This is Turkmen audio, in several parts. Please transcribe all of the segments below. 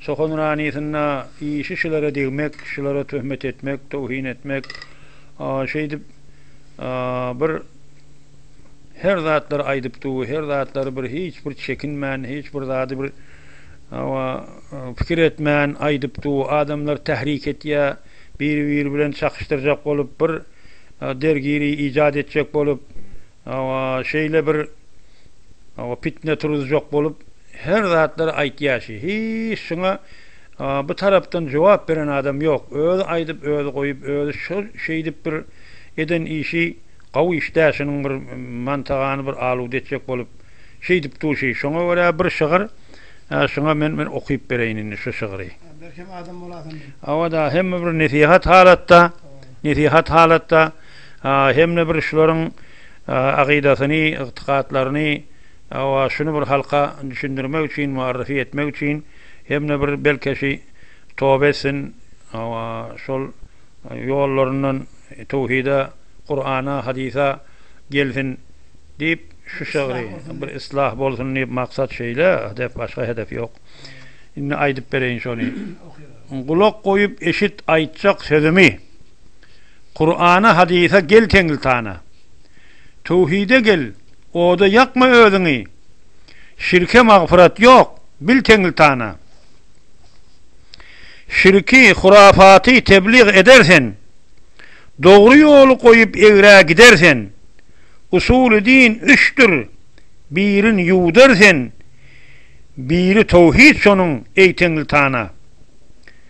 Çokan Ranysynda işi şulara degmek, şulara töhmet etmek, towhin etmek, şeýdip bir her zatlary aýdyp dur, her zatlary bir hiç bir çekinmän, hiç bir zady bir hawa pikir etmän aýdyp dur, adamlar tahrik etýä, biri-biri bilen çakyşdyrjak bolup, bir dergiri ijat etjek bolup, Hawa, şeýle bir hawa pitne turuzjak bolup her zatlar aýtýaşy. Hiç şuňa bu tarapdan jogap beren adam ýok. Özi aýdyp özi goýup özi şu şeýdip bir eden işi gawy iş dä şunuň bir mantagany bir aluda etjek bolup şeýdip duşy. Şoňa görä bir şygyr şuňa men men okyp bereýin indi şu şygry. Belkem adam bolasyň. Hawa da hemme bir nesihat halatda nesihat halatda. Hemde bir şularyň akydasyny, ygtykatlaryny şuny bir halka düşündirmek üçin, muarryfy etmek üçin hemde bir belki şi toba etsin, şol ýollaryndan töwhida, Kurana, hadysa gelsin diýip şu şygry bir islah bolsun diýip maksat şeýle, hedef başga hedef ýok. Indi aýdyp bereýin şony. Gulak goýup eşit aýtjak sözümi. Kurana hadysa gel teňlitana Töwhide gel oda ýakma özüňi Şirke magfyrat ýok bil teňlitana Şirki hurafaty tebliğ eder sen Dogry ýoly goýup egrä gider sen Usuly din üçdür birin ýuwdar sen Biri töwhid şonuň eý teňlitana.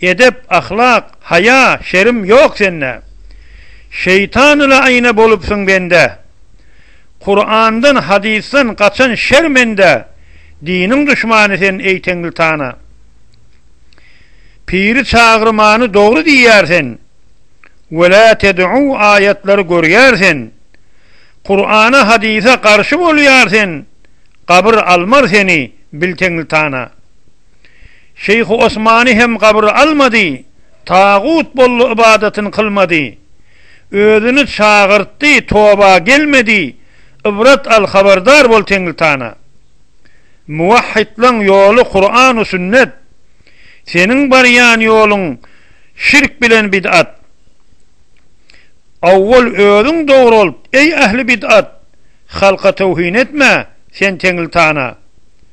Edep, ahlak, haýa, şerim ýok sende. Şeýtanyla aýna bolupsyň bende. Kurandan, hadysdan gaçan şermende. Diniň duşmany sen eý Tenglitana. Piri çagyrmany dogry diýýär sen. Welä ted'u aýatlary görýär sen. Kurana, hadysa garşy bolýar sen. Gabyr almar seni bil Tenglitana. Şeýhi Osmany hem gabyra almady, tagut boldy ybadatyn kylmady. Özüni çagyrtdy, toba gelmedi, ybrat al habardar bol Teňritana. Muwahhidlaň ýoly Kuranu sünnet, seniň barýan ýoluň şirk bilen bid'at. Awwal özüň dogralt, eý ähli bid'at, halka towhin etme, sen Teňritana.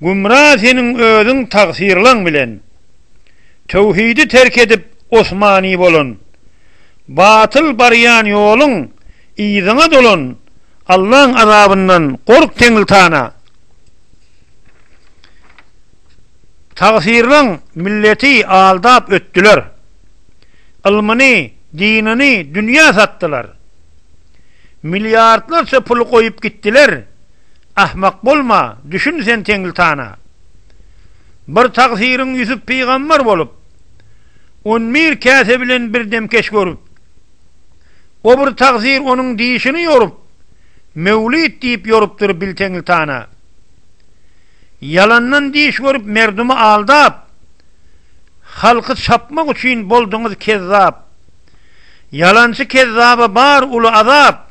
Gümra seniň özüň tagsyrlaň bilen. Töwhidi terk edip osmani bolan. Batyl barýan ýoluň yzyňa dolan. Allaň azabyndan gork teňltana. Tagsyrlaň milleti aldap ötdüler. Ylmyny, dinini dünýä satdylar. Milliardlarça pul goýup gitdiler. Ahmak bolma, düşün sen Teňlitana. Bir tagsyryň Ýusup pygamber bolup, On bir käse bilen bir demkeç görüp. O bir tagsyr onuň dişini ýorup, Möwlid diýip ýorupdyr bil Teňlitana. Ýalandan diş görüp merdumy aldap, Halky çapmak üçin bolduňyz kezzap. Ýalançy kezzaba bar uly azap.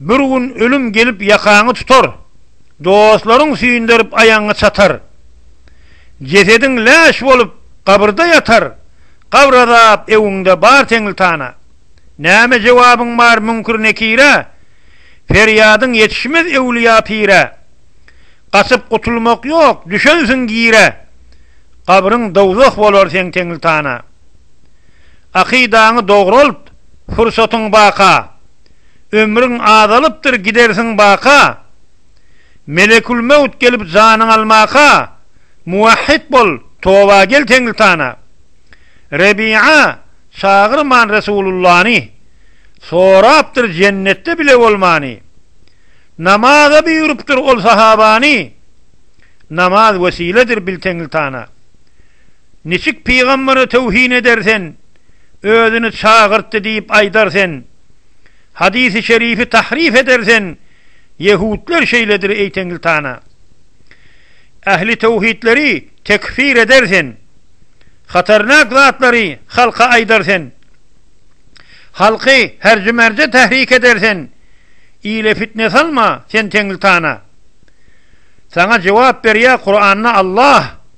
Bir gün ölüm gelip ýakaňy tutar, Dostlaryň süýnderip aýagyňy çatar. Jesediň läş bolup gabyrda ýatar, Gabr azap öňüňde bar teňlitana. Näme jogabyň bar müňkür-nekirä, Perýadyň ýetişmez öwlüýa-pirä. Gaçyp gutulmak ýok, düşensiň gire, Gabryň dowzah bolar seň teňlitana. Akydaňy dogralt, pursatyň baka. Ömrüň azalypdyr gidersiň baka, Melekülmewt gelip janyň almaka, Muwahhid bol, toba gel Teňritana. Rebi'a çagyrman Resulullany, Sorapdyr jennetde bile bolmany. Namaza buýrupdyr ol sahabany, Namaz wesiledir bil Teňritana. Niçik pygambere töwhin eder sen, özüni çagyrtdy diýip aýdar sen, hadysy şerifi tahryf eder sen, ýehudler şeýledir eý Tengiltana. Ähli töwhidleri tekfir eder sen, hatarnak zatlary halka aýdar sen, halky herji-merje tahrik eder sen, ile fitne salma sen Tengiltana. Saňa jogap berýär Kuranda Allah.